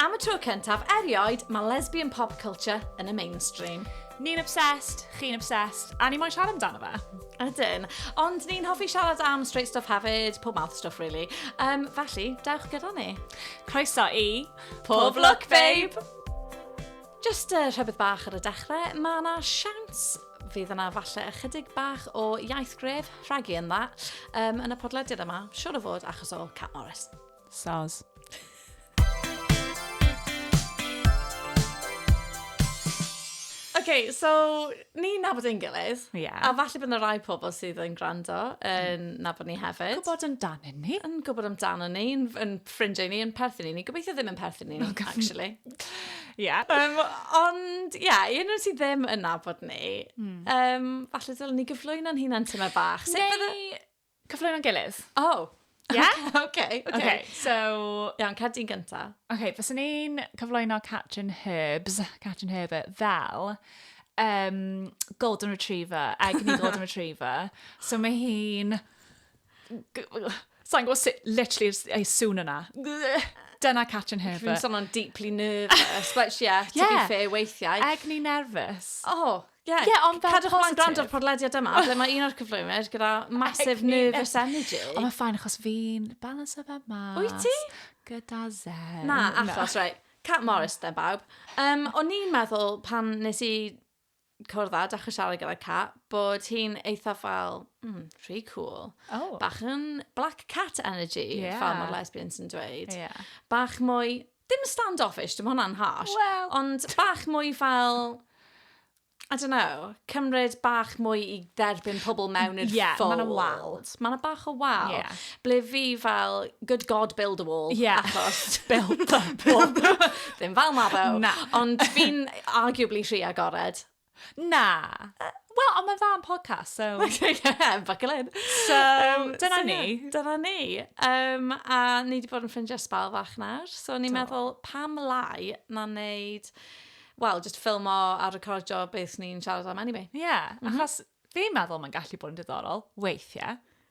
Am y tro cyntaf erioed, mae lesbian pop culture yn y mainstream. Ni'n obsessed, chi'n obsessed, a ni moyn siarad amdano fe. Ydyn, ond ni'n hoffi siarad am straight stuff hefyd, pob mouth stuff really. Um, felly, dewch gyda ni. Croeso i... Pob Look Babe! Jyst uh, rhywbeth bach ar y dechrau, mae yna siawns fydd yna falle ychydig bach o iaith gref, rhagu yn dda, um, yn y podlediad yma, siwr o fod achos o Cat Morris. Soz. okay, so Ni'n nabod ein gilydd. Ie. A falle bod yna rai pobl sydd yn gwrando yn mm. nabod ni hefyd. Yn gwybod amdanyn ni. Yn gwybod amdanyn ni, yn, yn ffrindiau ni, yn perthyn i ni. Gobeithio ddim yn perthyn i ni, actually. Ie. Yeah. Um, ond, ie, yeah, un o'r sydd ddim yn nabod ni, mm. um, falle dylwn ni gyflwyno'n hunan tyma bach. Neu, Cyfle mewn gilydd. Oh! Yeah? OK, OK. OK. okay. So, iawn, cat di'n gynta. OK, fes i'n cyflwyno Cat and Herbs, Cat and Herb, fel um, Golden Retriever, Egni Golden Retriever. So mae hi'n... Sa'n gwybod sut, literally, ei sŵn yna. Dyna Cat and Herb. Dwi'n sôn o'n deeply nervous, but yeah, to yeah. be fair, weithiau. Egni nervous. Oh, Ie, yeah, ond fel cadwch mlaen gwrando ar podlediad yma, ble mae un o'r cyflwynyr gyda massive nervous energy. Ond mae'n ffain, achos fi'n balans o fe mas. Wyt ti? Gyda zen. Na, achos, no. right. Cat Morris, da bawb. Um, o'n i'n meddwl pan nes i cwrdd â, dechrau siarad gyda Cat, bod hi'n eitha fel, mm, rhy cool. Oh. Bach yn black cat energy, yeah. fel mae'r lesbians yn dweud. Yeah. Bach mwy, Dim stand-offish, dim hwnna'n harsh. Wel... Ond bach mwy fel... I don't know, cymryd bach mwy i dderbyn pobl mewn i'r yeah, fold. Ie, mae'n wal. Mae'n bach o wal. Yeah. Ble fi fel, good God, build a wall. Yeah. Achos... build a wall. Ddim fel Mabo. Na. Ond fi'n arguably rhy agored. Na. Wel, ond mae'n dda am podcast, so... yeah, buckle in. So, um, dyna so, ni. Yeah, dyna ni. Um, a ni wedi bod yn ffrindiau sbal fach nawr, so ni'n meddwl pam lai na wneud... Wel, just ffilmo a recordio beth ni'n siarad am anyway. Ie, yeah, mm -hmm. achos fi'n meddwl mae'n gallu bod yn diddorol, weithiau.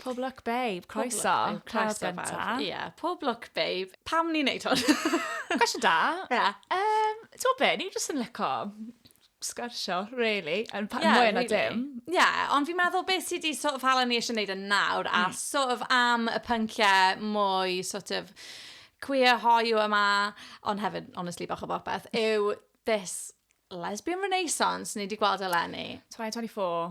Pob lwc babe, croeso. Croeso babe, ie. Pob lwc babe. Pam ni'n neud hwn? Cwestiwn da. Ie. Um, T'w be, ni'n jyst yn lyco sgwrsio, really, yn pa- yeah, mwy na really. dim. Ie, yeah, ond fi'n meddwl beth sydd wedi sort of hala ni eisiau gwneud yn nawr, mm. a hmm. sort of am y pynciau mwy sort of queer hoiw yma, ond hefyd, honestly, bach o bopeth, yw this lesbian renaissance ni wedi gweld eleni. 2024.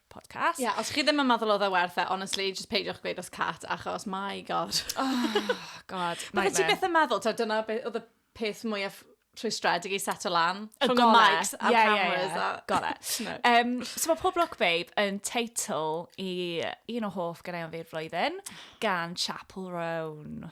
podcast. Ie, yeah, os chi ddim yn meddwl oedd e werth e, honestly, just peidiwch gweud os cat, achos, my god. oh, god, nightmare. ti beth yn meddwl, ta, dyna beth oedd y peth mwyaf rhwystredig i set o lan. Y Rhwng y mics a'r yeah, cameras. Yeah, yeah. A... Got it. no. um, so mae Pob Look Babe yn teitl i un o hoff gyda'i am fi'r flwyddyn gan Chapel Roan.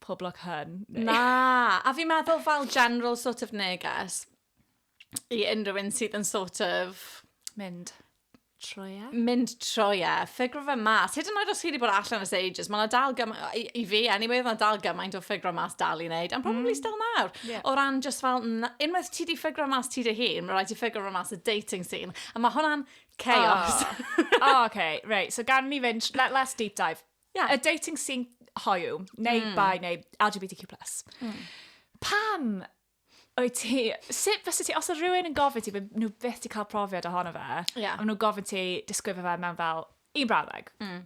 pob lwc hun. Na, a fi'n meddwl fel general sort of neges i unrhyw un sydd yn sort of... Mynd. Troia. Mynd troia, ffigro fe mas. Hyd yn oed os chi wedi bod allan as ages, mae yna dal gymaint, i, i fi anyway, mae yna dal gymaint o ffigro mas dal i wneud, and probably mm. still nawr. Yeah. O ran just fel, unwaith ti di ffigro mas ti dy hun, mae rhaid ti ffigro mas y dating scene, a mae hwnna'n chaos. Oh, oh okay, right, so gan ni fynd, let, let's deep dive. yeah, y dating scene hoiw, neu mm. bai, neu LGBTQ+. Mm. Pam wyt ti, sut fysa ti, os oedd rhywun yn gofyn ti, fe nhw beth ti cael profiad ohono fe, yeah. a nhw gofyn ti disgrifio fe mewn fel un brawddeg. Mm.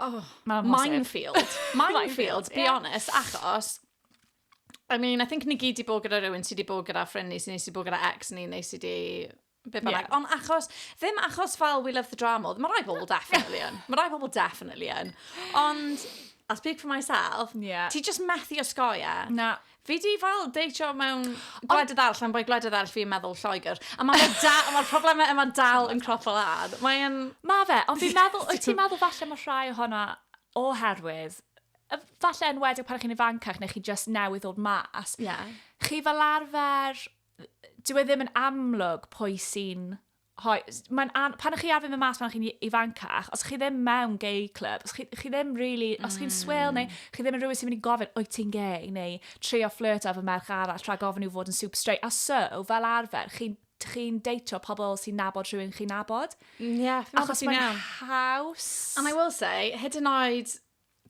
Oh, minefield. minefield, be yeah. honest, achos I mean, I think ni gyd i bod gyda rhywun sydd wedi bod gyda ffrind ni, sydd wedi bod gyda ex ni, neu sydd wedi Be bynnag. Yeah. Ond achos, ddim achos fel we love the drama, mae rai pobl definitely yn. Mae rai pobl definitely yn. Ond, I'll speak for myself, yeah. ti just methu osgoi e. Na. Fi di fel deitio mewn gwledydd arall, am bod gwledydd arall fi'n meddwl Lloegr. A mae'r ma ma problemau yma dal yn cropo lan. Mae'n... Mae fe, ond fi'n meddwl, wyt ti'n meddwl falle mae rhai ohono oherwydd falle yn wedi pan chi'n ifancach neu chi just newydd ddod mas. Yeah. Chi fel arfer dyw e ddim yn amlwg pwy sy'n hoi... Mae'n an... Pan ych chi ar fynd y mas pan chi'n ifancach, os chi ddim mewn gay club, os chi, chi ddim really... Os chi'n swil, neu mm. chi ddim yn rhywun sy'n mynd i gofyn, wyt ti'n gay, neu trio flirt ar fy merch arall, rhaid gofyn i'w fod yn super straight. A so, fel arfer, chi'n chi deitio pobl sy'n nabod rhywun chi'n nabod. Ie, yeah, Achos mae'n haws. And I will say, hyd yn oed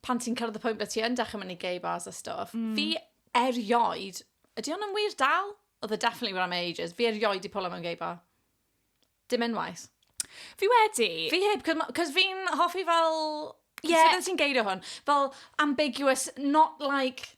pan ti'n cyrraedd y pwynt ble ti yn dechrau mynd i gay bars a stuff, mm. fi erioed, ydy hwn yn wir dal? Oedd e definitely where I'm ages, fi erioed i pwlo mewn gay bar. Dim unwaith. Fi wedi. Fi heb, cos fi'n hoffi fel... Yeah. Sut ti'n geirio hwn? Fel ambiguous, not like...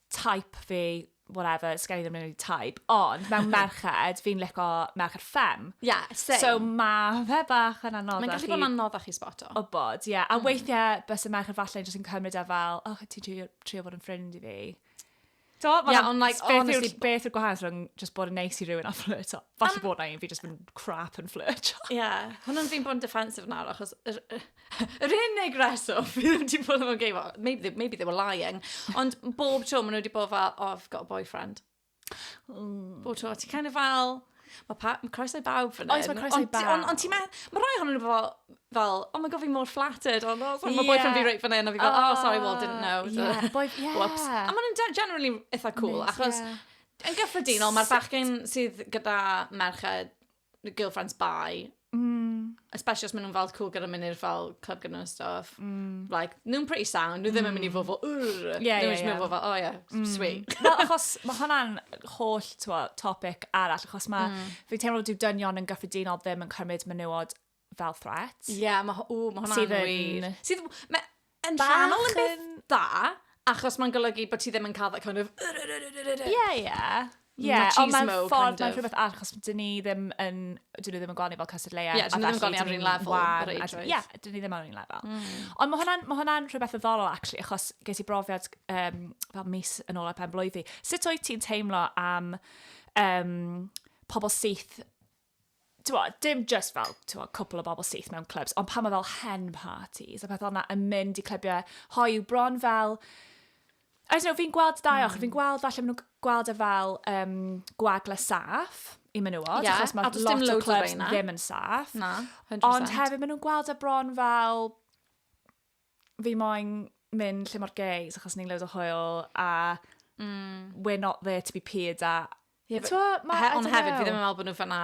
type fi, whatever, sgen i ddim really type, ond mewn merched, fi'n lico merched ffem. Yeah, same. So mae fe bach yn anoddach Mae'n gallu bod yn anoddach i sboto. O bod, ie. Yeah. A mm. weithiau, bys y merched falle jyst yn cymryd e fel, oh, ti'n trio, trio bod yn ffrind i fi. Do, yeah, yeah, ond like, beth honestly... Yw'r, beth yw'r gwahanol rhwng just bod yn neis i rhywun a flirt o? Falle um, bod na un fi just yn crap yn flirt o. Ie, yeah. hwnnw'n fi'n bod yn defensive nawr, achos... Er, er, Yr unig reswm fi ddim wedi bod yn gay, well, maybe, they, maybe they were lying, ond bob tro maen nhw wedi bod fel, oh, I've got a boyfriend. Mm. Bob tro, ti'n kind of fel, mae pa, ma croeso i bawb fan hyn. Oes, mae croeso i bawb. Ond on, ti me, mae rhai hwnnw fel, fel, oh my god, fi mor flattered, ond oh, yeah. mae boyfriend fi reit fan hyn, a fi fel, oh, oh sorry, well, didn't know. Yeah, boy, yeah. Whoops. A maen nhw'n generally eitha cool, Miss, achos yeah. yn gyffredinol, mae'r bachgen sydd gyda merched girlfriends bai. Mm. Especially os maen nhw'n fel cool gyda mynd i'r fel club gyda nhw'n stuff. Mm. Like, nhw'n pretty sound, nhw ddim yn mynd i fod fel, urr. Ie, ie, ie. Nhw'n mynd i fod fel, oh yeah, mm. sweet. Wel, achos mae hwnna'n holl twa, topic arall, achos mae, mm. fi'n teimlo dyw dynion yn gyffredinol ddim yn cymryd menywod fel threat. Ie, yeah, mae ma hwnna'n wir. Sydd yn... Yn rhannol yn beth da, achos mae'n golygu bod ti ddim yn cael that kind of... Ie, ie. Ie, ond mae'n ffordd, mae'n rhywbeth arall, achos dyn ni ddim yn, dyn ni ddim yn gweld ni fel cysur leia. Ie, dyn ni ddim yn gweld ni ar un lefel. Ie, dyn ni ddim ar un lefel. Mm. Ond mae hwnna'n ma hwnna rhywbeth o ddolol, actually, achos ges i brofiad um, fel mis yn ôl ar pen blwydd fi. Sut o'i ti'n teimlo am um, pobl syth Tewa, dim just fel, tewa, cwpl o bobl syth mewn clybs, ond pan mae fel hen parties a pethau yna yn mynd i clybiau hoiw bron fel... I don't know, fi'n gweld dau ochr, mm. fi'n gweld falle maen nhw'n gweld e fel um, gwagle saff i menywod, yeah, achos mae lot o clybs ddim yn saff. Na, 100%. Ond hefyd maen nhw'n gweld e bron fel fi moyn mynd lle mor gays achos ni'n loads o hwyl a mm. we're not there to be peer da. Yeah, but, ma, he, ond hefyd, fi ddim yn meddwl bod nhw fanna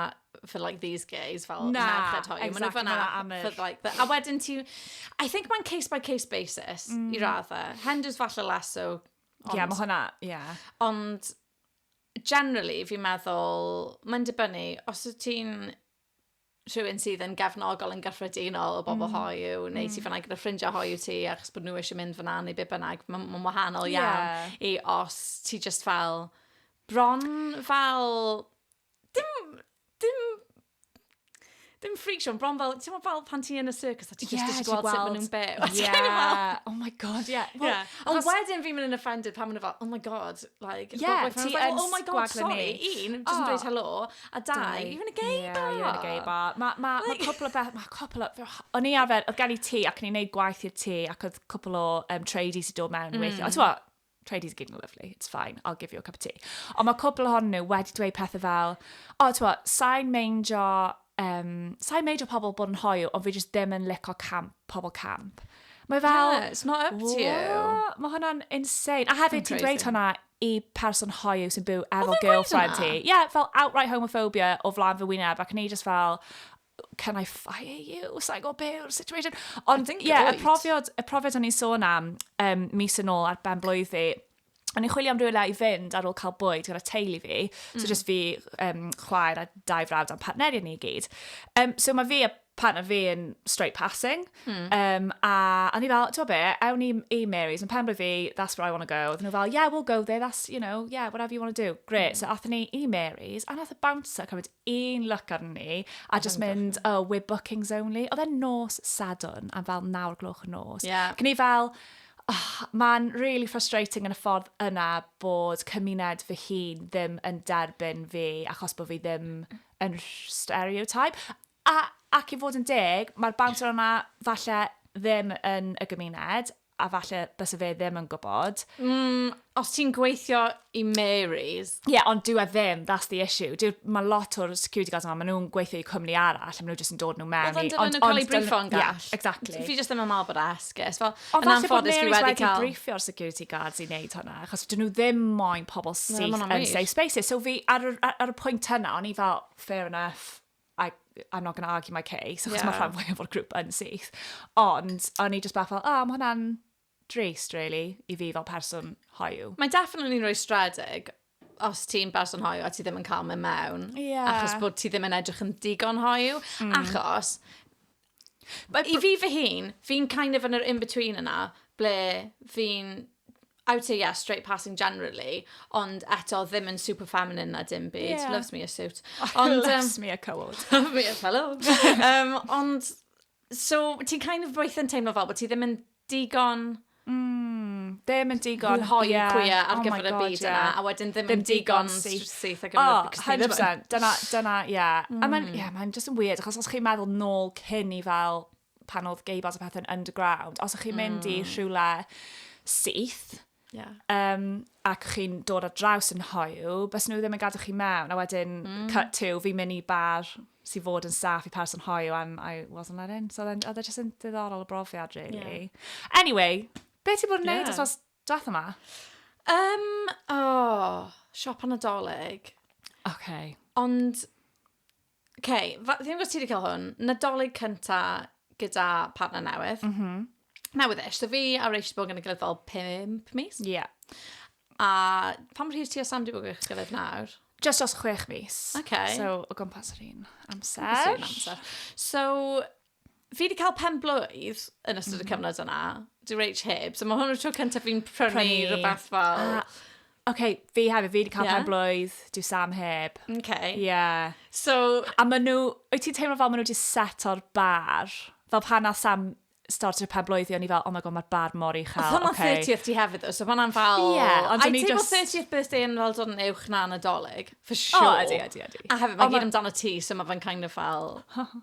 for like these gays, fel na, merched hoiw. Exactly, fanna amr. For, like, the, a wedyn ti... I think mae'n case by case basis mm. i raddau. Henders falle less so. Ond, yeah, mae hwnna, yeah. Ond generally, fi'n meddwl, mae'n dibynnu, os wyt ti'n rhywun sydd yn gefnogol yn gyffredinol o bobl mm. hoiw, neu mm. ti fyna gyda ffrindiau hoiw ti, achos bod nhw eisiau mynd fyna neu be bynnag, mae'n ma wahanol yeah. iawn i os ti just fel, bron fel, dim, dim dim freak show, bron fel, ti'n fel pan ti yn y circus, a ti yeah, just gweld sut maen nhw'n byw. Yeah, oh my god, yeah. Well, yeah. Ond wedyn fi'n mynd yn offended pan maen nhw fel, oh my god, like, yeah, ti like, oh my god, sorry, un, just yn dweud oh. hello, A dau, you're in a gay yeah, bar. You're in a gay bar. Mae ma, like... ma cwpl o beth, mae cwpl o... O'n i arfer, oedd gen i ti ac o'n i'n neud gwaith i'r ti ac oedd cwpl o um, tradies i dod mewn mm. weithio. Ond ti'n tradies gyd yn lovely, it's fine, I'll give you a cup of tea. Ond mae cwpl ohonyn nhw wedi dweud pethau fel, o, oh, ti'n sain meindio, um, sain meindio pobl bod yn hoiw, ond fi jyst ddim yn lico camp, pobl camp. Mae fel... Yeah, it's not up to you. Mae hwnna'n insane. A hefyd ti'n dweud hwnna y person hoyw sy'n byw efo girlfriend ti. Ie, yeah, fel outright homophobia o flan fy wyneb, ac ni just fel, can I fire you? Sa'n gwybod be yw'r situation? Ond, ie, yeah, y profiad, y profiad o'n i'n sôn am um, mis yn ôl ar ben blwydd fi, O'n i'n chwilio am rhywle i fynd ar ôl cael bwyd gyda teulu fi. Mm. So just fi, um, chwaer a dau frawd a'n partneriaid ni i gyd. Um, so mae fi a partner fi yn straight passing. Hmm. Um, a o'n i fel, ti'n be, ewn i, i Mary's, yn penblwydd fi, that's where I want to go. Oedden nhw fel, yeah, we'll go there, that's, you know, yeah, whatever you want to do. Great. Mm. So athyn ni i Mary's, a nath y bouncer cymryd un look arni ni, a just mynd, oh, we're bookings only. Oedd e'n nos sadwn, a fel nawr gloch y nos. Yeah. Cyn i fel, oh, mae'n really frustrating yn y ffordd yna bod cymuned fy hun ddim yn derbyn fi achos bod fi ddim yn stereotype. A, ac i fod yn deg, mae'r bouncer yma falle ddim yn y gymuned, a falle byse fe ddim yn gwybod. Mm, os ti'n gweithio i Mary's. Ie, yeah, ond dyw e ddim, that's the issue. Dyw, mae lot o'r security guards yma, maen nhw'n gweithio i cwmni arall, a maen nhw jyst yn dod nhw mewn. Ond ond dyna nhw'n cael ei briffo yn gall. Yeah, exactly. Fi jyst ddim yn meddwl bod e esgus. Fel, ond falle bod Mary's wedi, wedi cael... briffio'r security guards i wneud hwnna, achos dyn nhw ddim moyn pobl syth yn safe spaces. So fi, ar, ar, ar y pwynt yna, o'n i fel, fair enough, I, I'm not going to argue my case, achos yeah. mae rhan fwyaf o'r grŵp yn syth. Ond, o'n i just bach fel, oh, mae hwnna'n drist, really, i fi fel person hoiw. Mae definitely rhoi stredig, os ti'n berson hoiw a ti ddim yn cael mynd mewn, yeah. achos bod ti ddim yn edrych yn digon hoiw, mm. achos But I fi fy hun, fi'n kind of yn yr in-between yna, ble fi'n... I would say yeah, straight passing generally, ond eto ddim yn super feminine na dim byd. Yeah. Loves me a suit. Ond, Loves um, me a coward. me a fellow. um, ond, so, ti'n kind of weithio'n teimlo fel bod ti ddim yn digon ddim yn digon hoyw yeah, cwya ar oh gyfer y byd yna, a wedyn ddim, yn digon syth ar gyfer oh, y byd. 100%, dyna, dyna, ie. Yeah. Mm. A mae'n, ie, yeah, mae'n just yn weird, achos os chi'n meddwl nôl cyn i fel pan oedd gay bars a pethau'n underground, os ych chi'n mynd mm. i rhywle syth, Yeah. Um, ac chi'n dod ar draws yn hoiw, bys nhw ddim yn gadw chi mewn, a wedyn mm. cut to, fi'n mynd i bar sy'n fod yn staff i pars yn hoiw, and I wasn't let in. So then, oedd e just yn ddiddorol y brofiad, really. Yeah. Anyway, beth ti'n bod yn neud yeah. os drath yma? Um, oh, siop anadolig. Okay. Ond OK, fa- fi'n gwybod ti wedi cael hwn. Nadolig cynta gyda partner newydd. Mm -hmm. Newydd ish. So fi a Rach wedi bod yn y gilydd fel 5 mis. Ie. Yeah. A pam rhydd ti a Sam wedi bod yn gilydd nawr? Just os chwech mis. OK. So, o gwmpas yr un amser. Amser. So, fi wedi cael pen blwydd yn ystod y mhm. cyfnod yna, di reich heb, so mae hwn yn tro cyntaf fi'n prynu rhywbeth fel... Ah, OK, fi hefyd, fi wedi cael yeah. pen blwydd, di Sam heb. OK. Yeah. So... A maen nhw, wyt ti'n teimlo fel maen nhw wedi set o'r bar? Fel pan na Sam started pen blwydd i, o'n i fel, oh my god, mae'r bar mor i chael. Ond okay. 30th ti hefyd, so fanna'n fel... Ie, yeah, ond o'n i just... I teimlo 30th birthday yn fel dod yn uwch na nadolig, for sure. O, oh, ydy, ydy, ydy. A hefyd, mae gyd amdano ti, so mae fe'n kind of fel...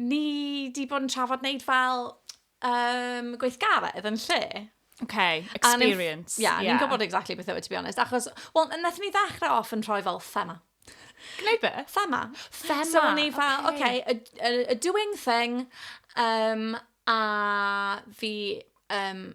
Ni 'di bod yn trafod wneud fel um, gweithgaredd yn lle. Okay, experience. Ie, yeah, yeah. ni'n gwybod exactly beth yw, e, to be honest. Achos, wel, wnaethon ni ddechrau off yn rhoi fel thema. Gwneud be? Thema. Thema, So, ni fel, oce, okay. okay, a, a, a doing thing, um, a fi um,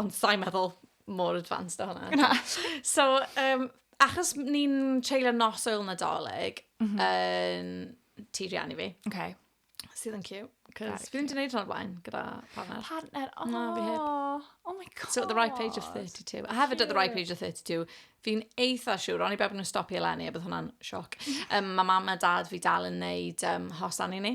Ond sa'i meddwl mor advanced o hwnna. Na. So, um, achos ni'n treulio nos oil nadolig mm -hmm. yn ti riannu fi. Okay. Sydd yn cute. Cos fi ddim wedi gwneud hwnna blaen gyda partner. Partner, oh. Na, fi heb. Oh, oh my god. So at the right age of 32. A hefyd at the right age of 32, fi'n eitha siwr, o'n i beth nhw'n stopio eleni, a bydd hwnna'n sioc. Um, mae mam a dad fi dal yn neud um, hosan i ni.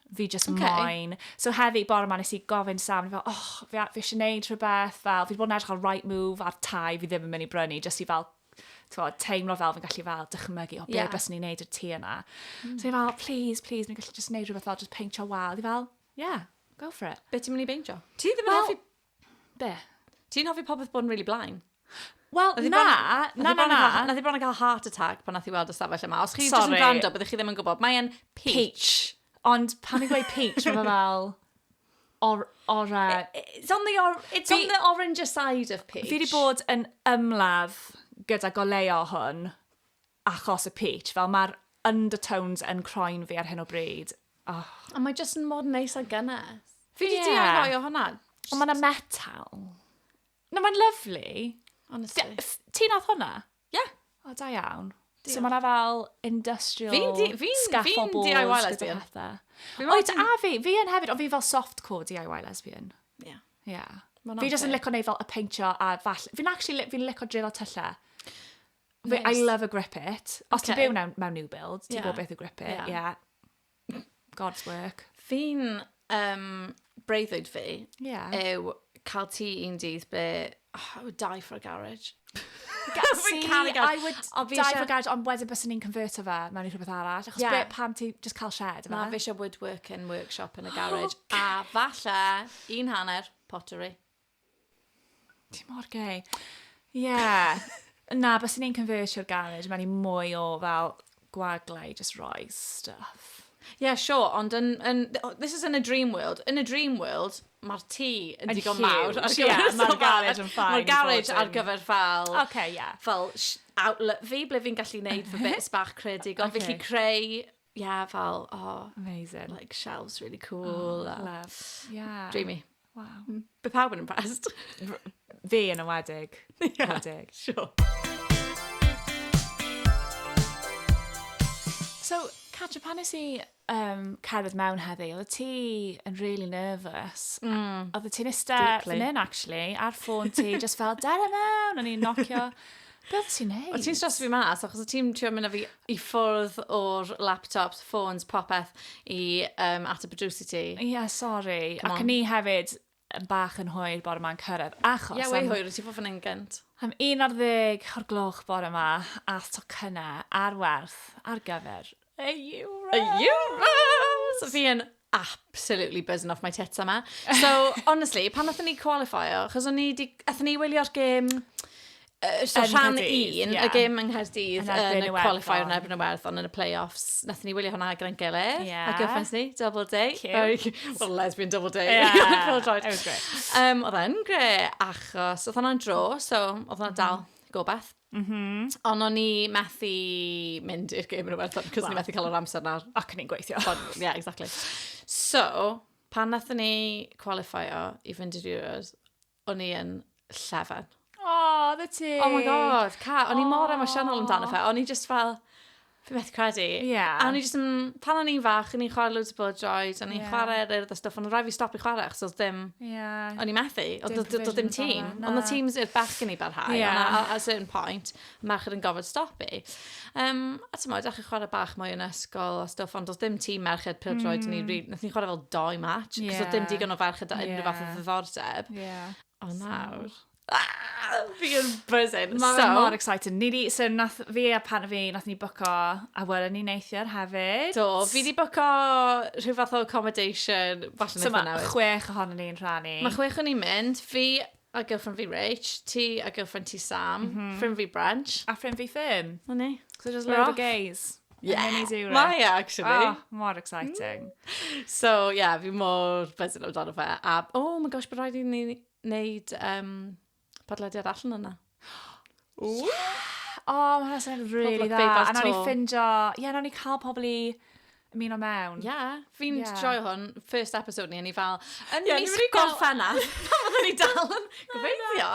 fi just okay. moyn. So heddi, bore ma nes i gofyn Sam, fel, oh, fi, fi eisiau neud rhywbeth, fel, fi wedi bod yn edrych ar right move ar tai fi ddim yn mynd i brynu, jyst i fel, twa, teimlo fel fi'n gallu fel dychmygu, o, beth yeah. bys ni'n neud y ti yna. Mm. So fi fel, please, please, ni'n gallu jyst neud rhywbeth fel, jyst peintio wal. Fi fel, yeah, go for it. Be ti'n mynd i beintio? Ti ddim yn well, hoffi Be? Ti'n hoffi popeth bod yn really blaen? Wel, na, na, na, na, na. Nath i bron yn cael heart attack pan nath i weld y stafell yma. Os chi jyst yn gwrando, byddwch chi ddim yn gwybod. Mae'n peach. peach. Ond pan i'n gweud peach, mae'n fel... Or, or, uh, it's on the, or, it's on the orange side of peach. Fi wedi bod yn ymladd gyda goleo hwn achos y pitch, fel mae'r undertones yn croen fi ar hyn o bryd. Oh. Ond mae jyst yn mod neis a gynnes. Fi wedi yeah. deall rhoi o hwnna. Ond mae'n metal. No, mae'n lyflu. Honestly. Ti nath hwnna? Ie. Yeah. O, da iawn. So mae'n fel industrial fi'n di, fi'n, scaffold fi'n DIY lesbian. Oed, a fi, fi yn hefyd, ond fi fel softcore DIY lesbian. Ie. Yeah. Yeah. Fi jyst yn licio neud fel y peintio a fall... Fi'n actually, fi'n licio drillo tyllau. Fe, I Nice. love a grip it. Os ti'n Ocê. byw mewn, mewn new build, ti'n Ie. gwybod beth yw grip it. Ie. Yeah. God's work. Fi'n um, breuddwyd fi Ie. yw cael ti un dydd be... Oh, I would die for a garage. Fi'n caru garage. I would Ond fi die isie- for garage, ond wedyn bys ni'n converto fe mewn i rhywbeth arall. Achos Ie. yeah. pam ti just cael shed Na, fe? fi eisiau woodworking workshop yn y garage. A falle un hanner pottery. Ti mor gay. Ie. Yeah. Na, bys ni'n conversio'r garage, mae'n i mwy o fel gwaglau, just roi stuff. Ie, yeah, sure, ond yn, yn, this is in a dream world. Yn a dream world, mae'r tŷ yn digon mawr. Mae'r garage yn ffain. Mae'r garage ar gyfer fel... Okay, yeah. Fel outlet fi, ble fi'n gallu neud fy bits bach creadigol. Okay. Fi gallu creu yeah, fel, oh, amazing. Like, shelves really cool. Oh, love. Yeah. Dreamy. Wow. Mm. Bydd pawb yn impressed. Fi yn ymwedig. yeah, ymwedig. sure. So, Catch pan nes i um, cerdded mewn heddi, oedd ti yn really nervous. Mm. Oedd ti'n ista fan hyn, actually, ar ffôn ti, just fel, dere mewn, o'n i'n nocio. Be oedd ti'n neud? O ti'n stres fi mas, achos o ti'n trio mynd â fi i ffwrdd o'r laptops, ffôns, popeth i um, at y producer ti. Ie, yeah, sori. Ac ni hefyd yn bach yn hwyr bore ma'n cyrraedd, achos... Ie, yeah, wei hwyr, ti fod fan hyn gynt. Am 11 o'r gloch bore yma, ath tocynnau ar werth ar gyfer A Euros! A Euros! Fi yn absolutely buzzing off my tits yma. So, honestly, pan nath ni qualifio, chos o'n ni di... Athyn ni wylio'r gêm... Uh, so yn rhan un, yeah. y gêm yng Nghaerdydd, yn y qualifier yn erbyn y werth, ond yn y play-offs, nath ni wylio hwnna gyda'n gilydd. Yeah. A gyffens ni, double day. Cute. Well, lesbian double day. Yeah. It was great. Um, oedd e'n gre, achos oedd hwnna'n dro, so oedd hwnna'n dal mm-hmm. gobaith. Mm -hmm. Ond o'n i methu mynd i'r gym yn Iwerddon, cos well. ni methu cael yr amser nawr. Ac ni'n gweithio. Ie, yeah, exactly. So, pan nath ni qualifio i fynd i'r Euros, o'n i yn llefen. Oh, the ti. Oh my god, ca, o'n i mor emosiynol amdano fe. O'n i just fel, Fi beth credu. Ie. Yeah. A o'n i jyst yn... Pan o'n i'n fach, o'n i'n chwarae loads o bod joys, o'n i'n yeah. chwarae ar eirth a stwff, ond rhaid fi stopio chwarae, achos oedd ddim... Yeah. O'n i'n methu, oedd ddim, ddim tîm. Ond y tîms i'r bach yn ei barhau, yeah. ond at a certain point, merch yn gofod stopu. Um, a ti'n modd, achos chwarae bach mwy yn ysgol a stwff, ond oedd ddim tîm merched pil droed, mm. ni, nath ni chwarae fel doi match, yeah. cos oedd ddim digon o ferched da unrhyw yeah. fath o ddiddordeb. Yeah. O nawr. Fi yn buzzing. Mae so, mor excited. Ni di, so nath fi a pan fi, nath ni bwco a wylwn ni neithiwr hefyd. Do, fi di bwco rhyw fath o accommodation. Falle so mae chwech ohono ni'n rhannu. Mae chwech o'n ni'n mynd. Fi a girlfriend fi Rach, ti a girlfriend ti Sam, mm -hmm. ffrind fi Branch. A ffrind fi Fern. O ni. So just load of gays. Yeah. Mae actually. Oh, mor exciting. Mm. So, yeah, fi mor buzzing amdano fe. A, oh my gosh, bod rhaid i ni wneud um, podlediad allan yna. Ww! Yeah! O, oh, mae'n sy'n really dda. A nawr ni ffindio... Ie, yeah, nawr ni cael pobl i ymuno mewn. Ie, yeah, fi'n yeah. joio hwn. First episode ni, ni fel... Yn yeah, mis gorffennaf. Pan fydden ni dal yn gobeithio.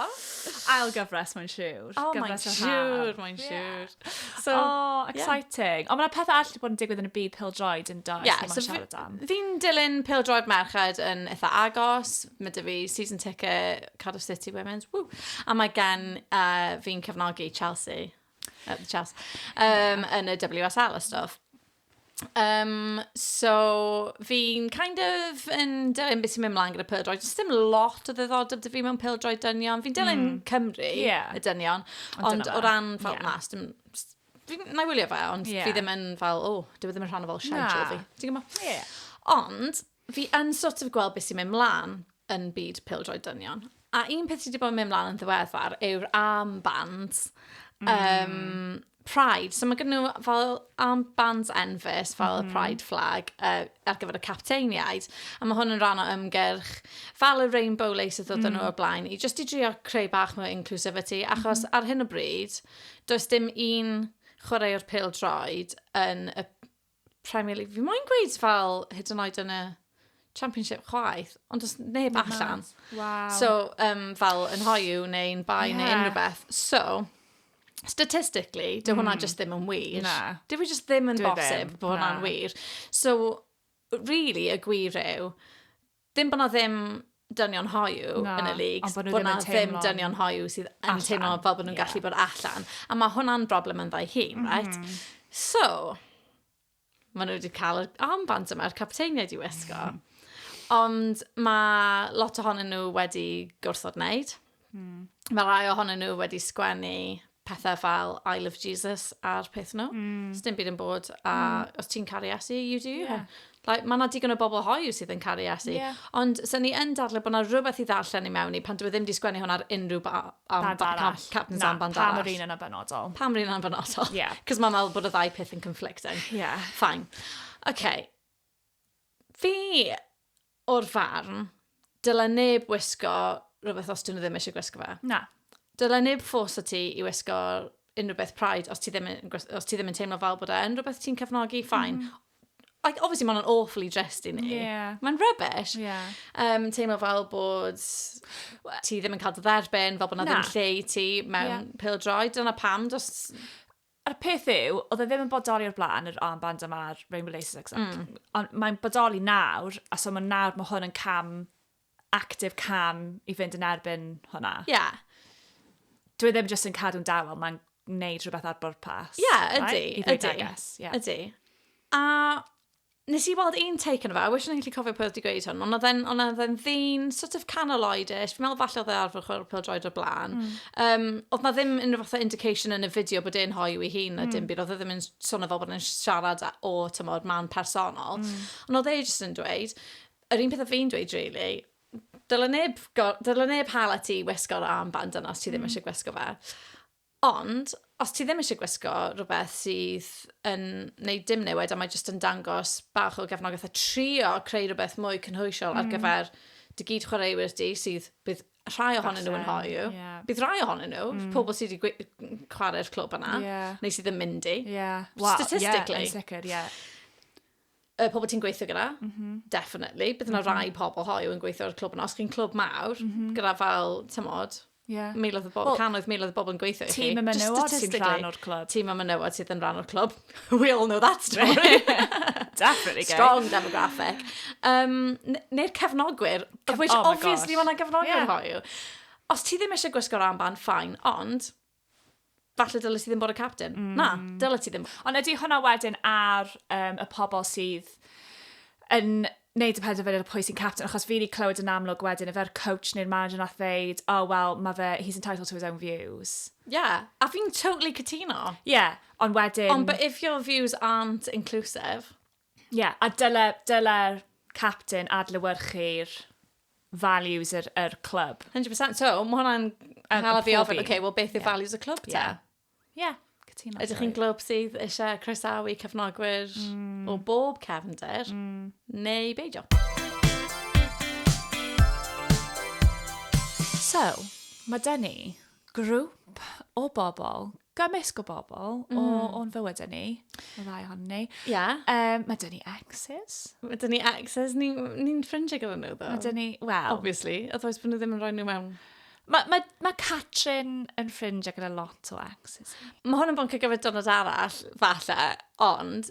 Ail gyfres, mae'n siwr. Oh, mae'n siwr, mae'n siwr. So, oh, exciting. Yeah. Ond mae'n pethau all wedi bod yn digwydd yn y byd pildroed yn dod. Yeah, so fi'n dilyn pildroed merched yn eitha agos. Mae dy fi season ticket Cardiff City Women's. Woo. A mae gen uh, fi'n cefnogi Chelsea. Uh, Chelsea. Um, yn y WSL a stuff. Um, so, fi'n kind of yn dilyn beth sy'n mynd mlaen gyda pildroed. Does dim lot o ddiddordeb dy fi mewn pildroed dynion. Fi'n dilyn mm. Cymru, yeah. y dynion. Ond, ond o ran fel yeah. mas, dim, fi'n na wylio fe, ond yeah. fi ddim yn fel, o, oh, dwi e ddim yn rhan o fel siarad yeah. fi. Ti'n gwybod? Yeah. Ond, Fi yn sort of gweld beth sy'n mynd mlaen yn byd pildroed dynion. A un peth sydd wedi bod yn mynd mlaen yn ddiweddar yw'r armbands. Mm. Um, Pride. So mae gen nhw fel armbands enfys, fel mm. y mhm. Pride flag, uh, ar gyfer y capteiniaid. A mae hwn yn rhan o ymgyrch fel y Rainbow Lace oedd mm. nhw o blaen, i just i drio creu bach mwy inclusivity, achos mm. ar hyn o bryd, does dim un chwaraewr pildroed yn y Premier League. Fi moyn gweud fel hyd yn oed yn y Championship chwaith, ond os neb Neb allan. mas. Waw. So, um, fel yn hoiw neu'n bai yeah. neu Ie. unrhyw beth. So, statistically, dy hwnna Mm. just ddim yn wir. Na. Dwi fi just ddim yn Dwi ddim, bosib bod hwnna'n na. wir. So, really, y gwir yw, Ddim bod 'na ddim dynion hoyw yn y leagues... Ond bod nhw ddim yn teimlo... Bod 'na ddim dynion hoyw sydd yn... Allan. ...teimlo fel bod nhw'n gallu... Ie. ...bod allan. A ma' hwnna'n broblem ynddo'i hun, reit? M-hm. So, ma' nhw 'di cael yr armbands yma, yr capteiniaid i wisgo. Ond ma' lot ohonyn nhw wedi gwrthod wneud. Mm. Mae rhai ohonyn nhw wedi sgwennu pethau fel I love Jesus ar peth nhw. Mm. Os dim byd yn bod, a mm. os ti'n caru asu, you do you. Yeah. Like, mae yna digon o bobl hoiw sydd yn caru asu. Yeah. Ond sy'n ni yn dadle bod yna rhywbeth i ddarllen i mewn i pan dwi e ddim wedi sgwennu hwn ar unrhyw ba, am, band ba, arall. Captain's Na, band arall. Pam yr un yna benodol. Pam yr un yna benodol. Yeah. Cos mae'n meddwl bod y ddau peth yn conflicting. Yeah. Fine. OK. Fi o'r farn, dyle neb wisgo rhywbeth os dyn nhw ddim eisiau gwisgo fe. Na. Dyle neb ffos o ti i wisgo unrhyw beth Pride os ti ddim yn, os ti ddim yn teimlo fel bod e yn rhywbeth ti'n cefnogi, ffain. Mm. Like, obviously, mae'n awful i drist i ni. Yeah. Mae'n rubbish. Yeah. Um, teimlo fel bod ti ddim yn cael dy dderbyn, fel bod na, na. ddim lle i ti mewn yeah. pildroi. Dyna pam, dos A'r peth yw, oedd e ddim yn bodoli o'r blaen, yr armband yma'r Rainbow Laces X. Mm. Ond mae'n bodoli nawr, a so mae nawr, mae hwn yn cam, active cam i fynd yn erbyn hwnna. Ie. Yeah. Dwi e ddim jyst yn cadw'n dawel, mae'n gwneud rhywbeth ar bwrpas. Ie, yeah, ydy, right? ydy. Guess, yeah. Ydy. A Nes i weld un take yno fe, I wish o'n i'n gallu cofio pwy oedd wedi gweud hwn, ond oedd e'n oedd e'n oedd e'n ddyn sort of canol oedish, fi'n meddwl falle oedd e arfer chwarae pêl-droed o'r blaen. Mm. Um, oedd na ddim unrhyw fath o indication yn y fideo bod e'n hoiw i hun na mm. dim byd, oedd e ddim yn swnio fel bod e'n siarad o, tymor, man personol. Mm. Ond oedd e jyst yn dweud, yr un peth o fi'n dweud, really, dylen neb, dylen neb hala ti wisgo'r armband yna os ti ddim mm. eisiau gwisgo fe. Ond, os ti ddim eisiau gwisgo rhywbeth sydd yn wneud dim newid a mae jyst yn dangos bach o gefnogaeth a trio creu rhywbeth mwy cynhwysiol ar mm. gyfer dy gyd chwaraewyr di sydd bydd rhai ohonyn nhw yn hoiw. Yeah. Bydd rhai ohonyn nhw, mm. pobl sydd wedi chwarae'r clwb yna, yeah. neu sydd yn mynd i. Yeah. Well, Statistically. Yeah, sicr, yeah. y pobl ti'n gweithio gyda, mm -hmm. definitely. Bydd yna mm -hmm. rai pobl hoiw yn gweithio ar y clwb yna. Os chi'n clwb mawr, mm -hmm. gyda fel, tymod, yeah. miloedd o bobl, well, canoedd miloedd o bobl yn gweithio i chi. Tîm y menywod sy'n rhan o'r clwb. Tîm y menywod sydd yn rhan o'r clwb. We all know that story. definitely gay. Strong demographic. Um, Neu'r cefnogwyr, of which oh obviously mae yna gefnogwyr yeah. hoiw. Os ti ddim eisiau gwisgo'r armband, ffain, ond falle dyle ti ddim bod y captain. Mm. Na, dyle ti ddim. Ond ydy hwnna wedyn ar um, y pobl sydd yn wneud y penderfyniad o pwy sy'n captain, achos fi wedi clywed yn amlwg wedyn, efo'r coach neu'r manager nath ddeud, oh well, mae fe, he's entitled to his own views. Yeah, a fi'n totally cytuno. Yeah, ond wedyn... Ond but if your views aren't inclusive... Ie, yeah, a dyle, dyle'r captain adlewyrchu'r values yr, yr clwb. 100%, so mae hwnna'n cael fi ofyn, okay, well, beth yw yeah. values y clwb te? Yeah. Yeah. Cytuno. Ydych chi'n glwb sydd eisiau croesawu cefnogwyr mm. o bob cefnder, mm. neu beidio? So, mae dyn ni grŵp o bobl gymysg o bobl mm. o, hmm. o'n fywyd ni, y ddau hon ni. Ia. Um, mae dyn ni exes. Mae dyn ni exes, ni'n ni, ni ffrindiau gyda nhw, ddo. Mae dyn ni, wel... Obviously, otherwise bod nhw ddim yn rhoi nhw mewn Mae ma, ma Catrin yn ffrindiau gyda lot o exes. Mae hwn yn boncio gyfer dynod arall, falle, ond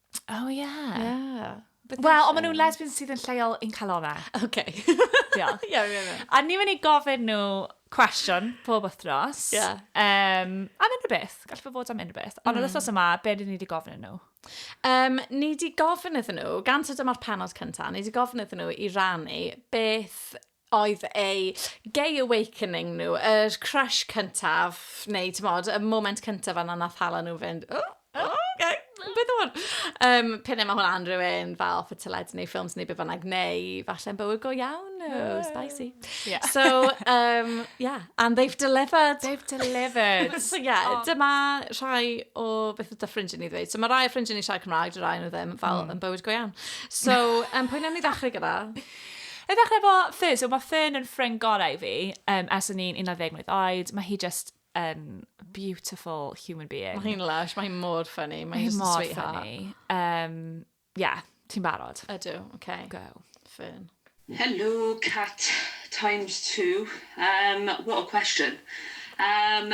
Oh, yeah. Yeah. Wel, ond maen nhw'n lesbians sydd yn lleol i'n calona. OK. Diolch. Ie, ie, ie. A ni mynd i gofyn nhw cwestiwn pob wythnos. Ie. Um, am unrhyw beth. Gallai fe fod am unrhyw beth. Ond mm. yr wythnos yma, be dyn ni wedi gofyn nhw? Um, ni wedi gofyn iddyn nhw, gan sydd dyma'r penod cyntaf, ni wedi gofyn iddyn nhw i rannu beth oedd eu gay awakening nhw, yr crush cyntaf, neu ti'n modd, y moment cyntaf yna nath hala nhw fynd, oh, oh, okay, beth o'n? Um, Pyn mae hwnna unrhyw un fel off y teledu neu ffilms neu beth bynnag, neu falle yn bywyd go iawn nhw, yeah. spicy. Yeah. So, um, yeah, and they've delivered. They've delivered. so, yeah, oh. dyma rhai o beth ydy ffrindiau ni ddweud. So, mae rhai o ffrindiau ni siarad Cymraeg, dy rhai nhw ddim, fel mm. yn bywyd go iawn. So, um, pwy newn ni ddechrau gyda? I ddechrau efo Fern, so mae Fern yn ffrind gorau i fi um, ers o'n i'n 11 mlynedd oed. Mae hi just yn um, beautiful human being. Mae hi'n lush, mae hi'n mor ffynnu, mae hi'n mor ffynnu. Um, yeah, ti'n barod? Ydw, oce. Okay. Go. Fern. Hello, Cat times two. Um, what a question. Um,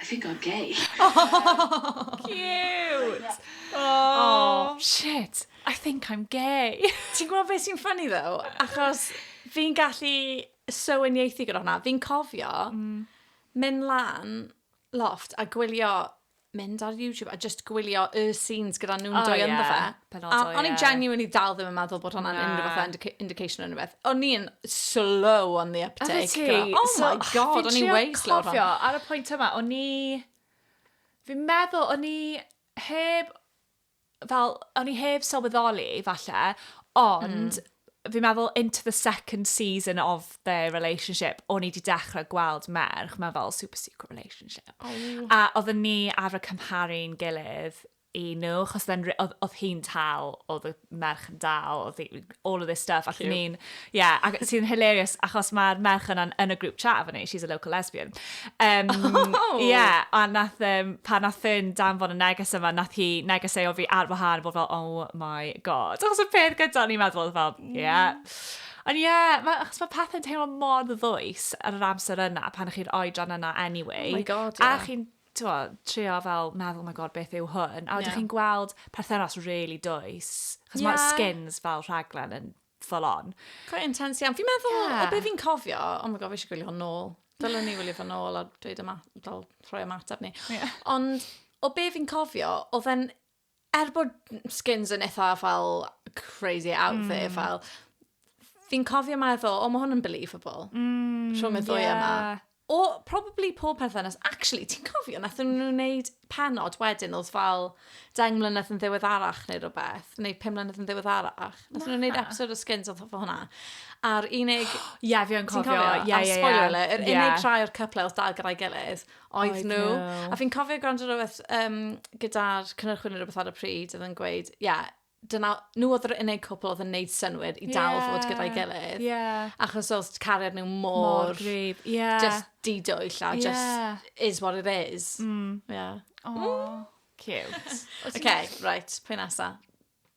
I think I'm gay. Cute! Aww. Shit, I think I'm gay. Ti'n gwybod beth sy'n ffynnu ddo? Achos fi'n gallu soweniaethu gyda hwnna. Fi'n cofio mm. mynd lan loft a gwylio mynd ar YouTube a just gwylio y scenes gyda nhw'n oh, dwy yeah. ynddo fe. penodol, ie. A o'n i'n genuinely dal ddim yn meddwl bod hwnna'n unrhyw fath indica indication o unrhyw beth. O'n i'n slow on the uptake. Oeddet ti? gyda- Oh So, my god, o'n i'n Fi'n way trio slow ar hwn. cofio, ar y pwynt yma, o'n i... Fi'n meddwl, o'n i heb... Fel, o'n i heb sylweddoli, falle, ond... Fi'n meddwl, into the second season of their relationship, o'n i wedi dechrau gweld merch mewn fel super secret relationship. A oedden ni arfer cymharu'n gilydd i nhw, achos oedd hi'n tal, oedd y merch yn dal, oedd all of this stuff, ac ni'n, yeah, ac sy'n hilarious, achos mae'r merch yna yn y grŵp chat efo ni, she's a local lesbian. Um, oh! Yeah, a nath, um, pa nath yn danfon y neges yma, nath hi neges ei o fi ar wahan, bod fel, oh my god. Achos y peth gyda ni'n meddwl, oedd fel, mm. yeah. Ond ie, yeah, ma, achos mae pethau'n teimlo mor ddwys ar yr amser yna pan chi'n oedran yna anyway. Oh my god, yeah. A chi'n t'mo' trio fel meddwl my God beth yw hwn? A wedyn chi'n gweld perthynas rili dwys, achos ma' Skins fel rhaglen yn full on. Quite intense iawn. Fi'n meddwl, o be' fi'n cofio, oh my God fi eisiau gwylio hwn nôl. Dylen ni wylio fe nôl a dweud fel rhoi ymateb ni. Ond o be' fi'n cofio, odd e'n er bod Skins yn eitha fel crazy out mm. there, fel, fi'n cofio meddwl, o, mae hwn yn believable. Mm, Rhwng y ddwy yeah. yma. O, probably pob perthynas. Actually, ti'n cofio, nath nhw'n gwneud penod wedyn, oedd fel deng mlynedd yn ddiweddarach neu rhywbeth, neu pum mlynedd yn ddiweddarach. Nath nhw'n gwneud episod o Skins oedd fel hwnna. A'r unig... Ie, yeah, fi yn cofio. Ie, ie, ie. Spoiler, yr unig yeah. rhai o'r cyplau oedd dal gyda'i gilydd, Oedd nhw. A fi'n cofio gwrando rhywbeth um, gyda'r cynnyrchwyr neu rhywbeth ar y pryd oedd yn gweud, ie, yeah, dyna, nhw oedd yr unig cwpl oedd yn neud synwyr i dal yeah. fod gyda'i gilydd. Yeah. Achos oedd cariad nhw mor... Mor grib, yeah. Just didwyll a yeah. just is what it is. Mm. Yeah. Oh, mm. cute. okay, right, pwy nesa?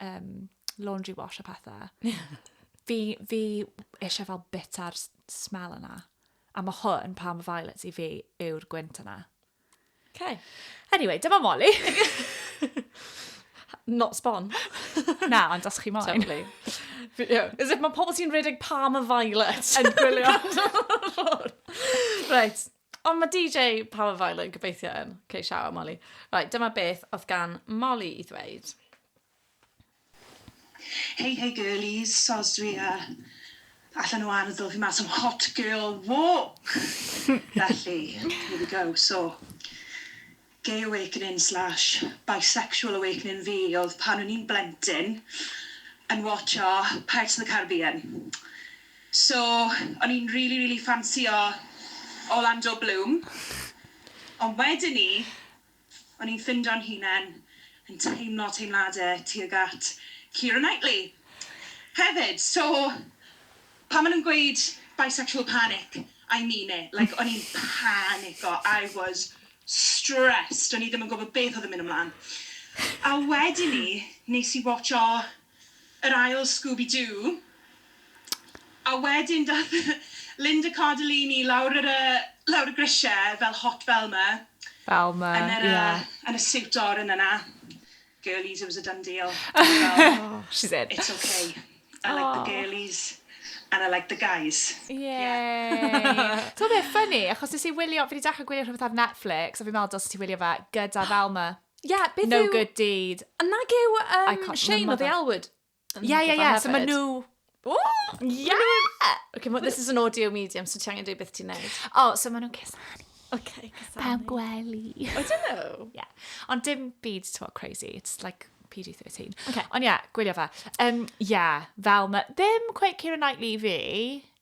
um, laundry wash a pethau. fi, fi eisiau fel bita'r smell yna. A mae hwn, Palm Violets, i fi yw'r gwynt yna. Okay. Anyway, dyma Molly. Not spawn. Na, ond os chi moyn. Totally. Yeah. Is it mae pobl sy'n rhedeg palm a violet yn gwylio? right. Ond mae DJ Power Violent gobeithio yn. Ok, shout out Molly. Right, dyma beth oedd gan Molly i ddweud. Hey hey girlies, soz dwi a allan o ardd ddoth i mas am hot girl walk! Felly, here we go, so. Gay awakening slash bisexual awakening fi oedd pan o'n i'n blentyn yn watsio Pirates of the Caribbean. So, o'n i'n rili, rili ffansïo Orlando Bloom. Ond wedyn 'ny, o'n i'n ffindo'n hunan yn teimlo teimladau tuag at Keira Knightley hefyd. So, Pan ma nhw'n gweud bisexual panic, I mean it, like o'n i'n panico, I was stressed, o'n i ddim yn gwybod beth oedd yn mynd ymlan. A wedyn 'ny, nes i watsio yr ail Scooby-Doo, a wedyn daeth Linda Cardellini lawr yr yy lawr y grisiau fel hot Velma... Velma, ie. ...yn yr yy yn y siwt oren yna. girlies it was a done deal. oh, she said. It's okay. I oh. like the girlies and I like the guys. Yeah. Ti'n beth, ffynnu, achos nes i wylio, fi wedi dechrau gwylio rhywbeth ar Netflix, a fi'n meddwl dos ti wylio fe, gyda Velma. Yeah, beth no yw... good deed. A nag yw um, Shane o The Elwood? Ie, ie, ie, so maen nhw... Ww! Ie! Ok, ma- this is an audio medium, so ti angen dweud beth ti'n neud. O, so maen nhw'n cusanu. Ok, cusanu. Pawb gwely. I don't know. Ie. Ond dim byd, ti'n gwybod, crazy. It's like PG-13. Ok. Ond ie, gwylio fe. Um, ie, fel ma... Ddim quite Keira Knightley fi.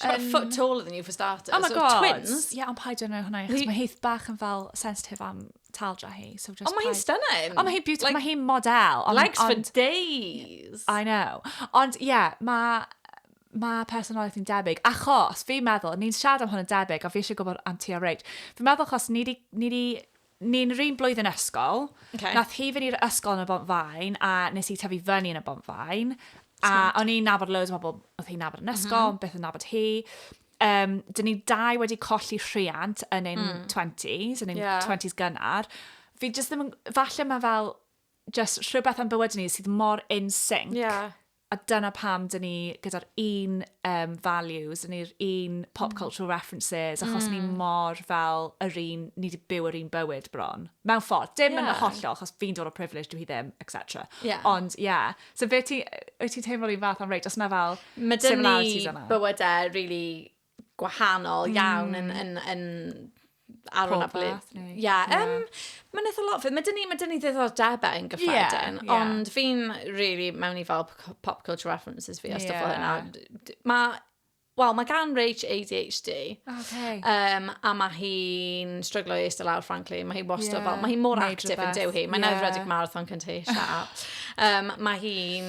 She's about a Um, foot taller than you for starters. Oh my so god. Twins. Ie, ond paid yn hwnna, achos Hi- mae Heath bach yn fel sensitif am taldra hi. So just Ond mae hi'n paid- stunning. Ond mae hi'n beautiful, Like, mae hi'n model. Ond, Legs for ond, days. I know. Ond ie, yeah, mae ma personoliaeth yn debyg, achos fi'n meddwl, ni'n siarad am hwn yn debyg, a fi eisiau gwybod am ti a Rach. Fi'n meddwl achos ni di, ni di Ni'n 'run blwyddyn ysgol. Ok. Nath hi fynd i'r ysgol yn y Bont-faen, a nes i tyfu fyny yn y Bont-faen. A o'n i'n nabod loads o bobl oedd hi'n nabod yn ysgol, ond byth yn nabod hi. Yym, 'dyn ni dau wedi colli rhiant yn ein twenties, yn ein... Ie. ...twenties gynnar. Fi jyst ddim yn... Falle ma' fel jyst rhywbeth am bywydau ni sydd mor in sync... Ie. A dyna pam dyn ni gyda'r un um, values, yn i'r un pop mm. cultural references, achos mm. ni mor fel yr un, ni wedi byw yr un bywyd bron. Mewn ffordd, dim yeah. yn hollol, achos fi'n dod o privilege, dwi hi ddim, etc. Yeah. Ond, ie. Yeah. So fe ti, wyt ti'n teimlo'r un fath am reit, os na fel similarities yna? Mae dyn ni bywydau really gwahanol iawn yn, yn, yn ar hwnna blwydd. Ie, um, mae'n eitha lot. Mae dyn ni, mae dyn ni ddiddordebau yn gyffredin, yeah, yeah. ond fi'n really mewn i fel pop culture references fi a stuff yeah. hynna. Mae Wel, mae gan Rach ADHD. Okay. Um, a mae hi'n stryglo i eistedd lawr, frankly. Mae hi wastad yeah. fel, mae hi mor actif yn dew hi. Mae'n yeah. edrych marathon cynta hi, shut up. Um, mae hi'n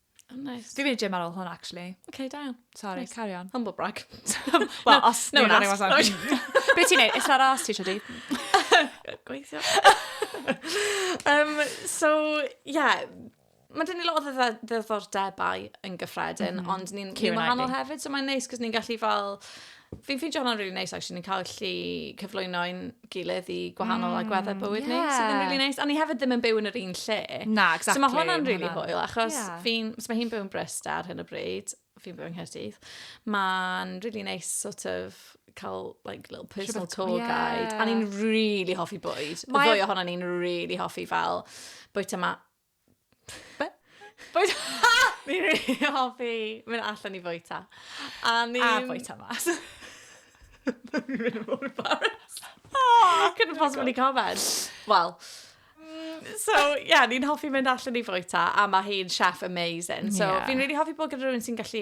Oh, nice. Dwi'n mynd i gym ar ôl hwn, actually. OK, da iawn. Sorry, nice. carry on. Humble brag. Wel, os no one asked. No Be ti'n neud? Is that ass ti, Shadi? Gweithio. um, so, yeah, mae dyn ni lot o ddiddordebau yn gyffredin, mm -hmm. ond ni'n ni wahanol hefyd, so mae'n neis, cos ni'n gallu fel Fi'n ffeindio hwnna'n really nice, actually. Ni'n cael lli cyflwyno i'n gilydd i gwahanol mm, agweddau bywyd yeah. ni, sydd yn really nice. A ni hefyd ddim yn byw yn yr un lle. Na, exactly. So mae hwnna'n really hwyl, achos yeah. fi'n, so mae hi'n byw yn Brist ar hyn o bryd, fi'n byw yn Nghyrdydd. Mae'n really nice sort of cael like, little personal tour yeah. guide. A ni'n really hoffi bwyd. Mae... Fwy ohono ni'n really hoffi fel bwyta ma Be? Bwyd... Fi'n rili hoffi mynd allan i fwyta. A ni... A fwyta mas. Fi'n mynd yn ôl i Paris. Oh, couldn't possibly comment. Wel, So, ie, yeah, ni'n hoffi mynd allan i fwyta, a mae hi'n chef amazing. So, yeah. fi'n really hoffi bod gyda rhywun sy'n gallu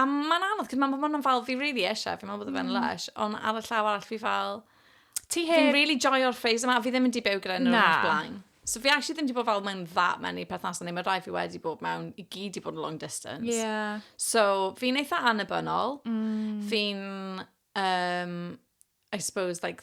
A mae'n anodd, cos mae'n bod yn fel, fi really eisiau, fi'n meddwl bod fe'n mm. lush, ond ar y llaw arall fi fel... Ti hyn? Fi'n really joio'r ffeis yma, fi ddim yn di byw gyda nhw'n o'r blaen. So fi actually ddim wedi bod fel mewn dda mewn i perthnasau neu mae rhai fi wedi bod mewn i gyd wedi bod yn long distance. Yeah. So fi'n eitha annibynnol. Mm. Fi'n, um, I suppose, like,